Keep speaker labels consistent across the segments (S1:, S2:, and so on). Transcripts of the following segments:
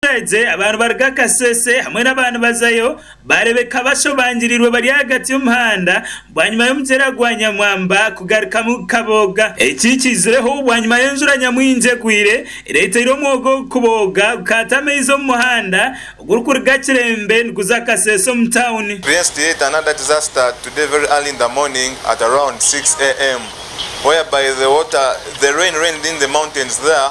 S1: Abaturage aba nibaruga Kasese hamwe n'aba nibazayo baarebeka bashobangirirwe bari ahagati y'omuhanda bwanyima y'omugyera gwa Nyamwamba kugarukamu gukabooga. Eki kiizireho bwanyima y'enjura nyamwingi egwire ereeteire omwoga ogu kubooga gukaata amaizi omu muhanda ogurikuruga Kirembe niguza Kasese omu tauni. Previous to yet another
S2: disaster today very early in the morning at around 6 am whereby the water the rain rained in the mountains there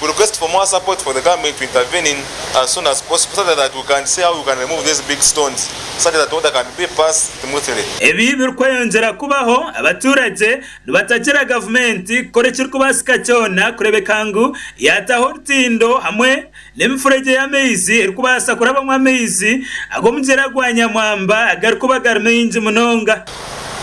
S2: We request for more support for the government to intervene in as soon as possible such that we can see how we can remove these big stones such that order can be pass smoothly. Ebi birikweyongyera
S1: kubaho, abaturage nibatagira gavumenti kukora ekirikubaasika kyona kureebeka ngu yaataho orutindo hamwe n'emifuregye y'amaizi erikubaasa kurabamu amaizi ag'omugyera gwa Nyamwamba agarikuba gari maingi munonga.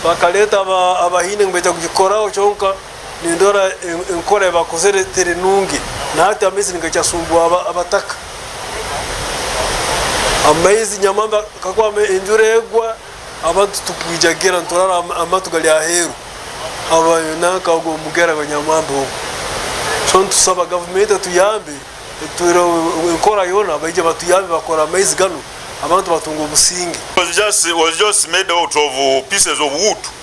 S1: Bakareeta
S3: abahaine ngu baije kugikoraho kyonka. nindora enkora ei baakozire teri nungi, na hati amaizi nigakyasumbuwa abataka. Amaizi nyamamba kakuba enjura egwa, abantu tugwijagira niturara amatu gari aheeru ahabwa nanka ogwo omugyera gwa nyamwamba ogwo. So nitusaba gavumenti etuyambe etutureho enkora yoona baije batuyambe bakore amaizi ganu abantu batunge obusinge.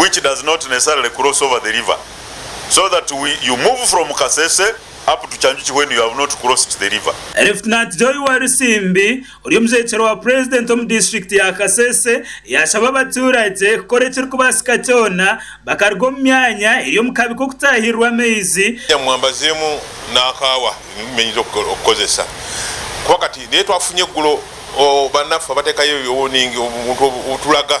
S4: which does not necessarily cross over the river so that we you move from kasese up to kyanjuki when you have not crossed the river. Lieutenant Joy
S1: Walusimbi ori omushwekyerwa wa Purezidenti omu disiturikiti ya Kasese yashaba abaturage kukora ekirikubaasika kyona bakaruga omu myanya eri omu kabi k'okutaahirirwa amaizi. Nyamwambazi emu
S5: n'akaawa ebi mumenyize okukozesa kuba kati naye twafunye eggulo banafu abateekayo obuntu obuturaga.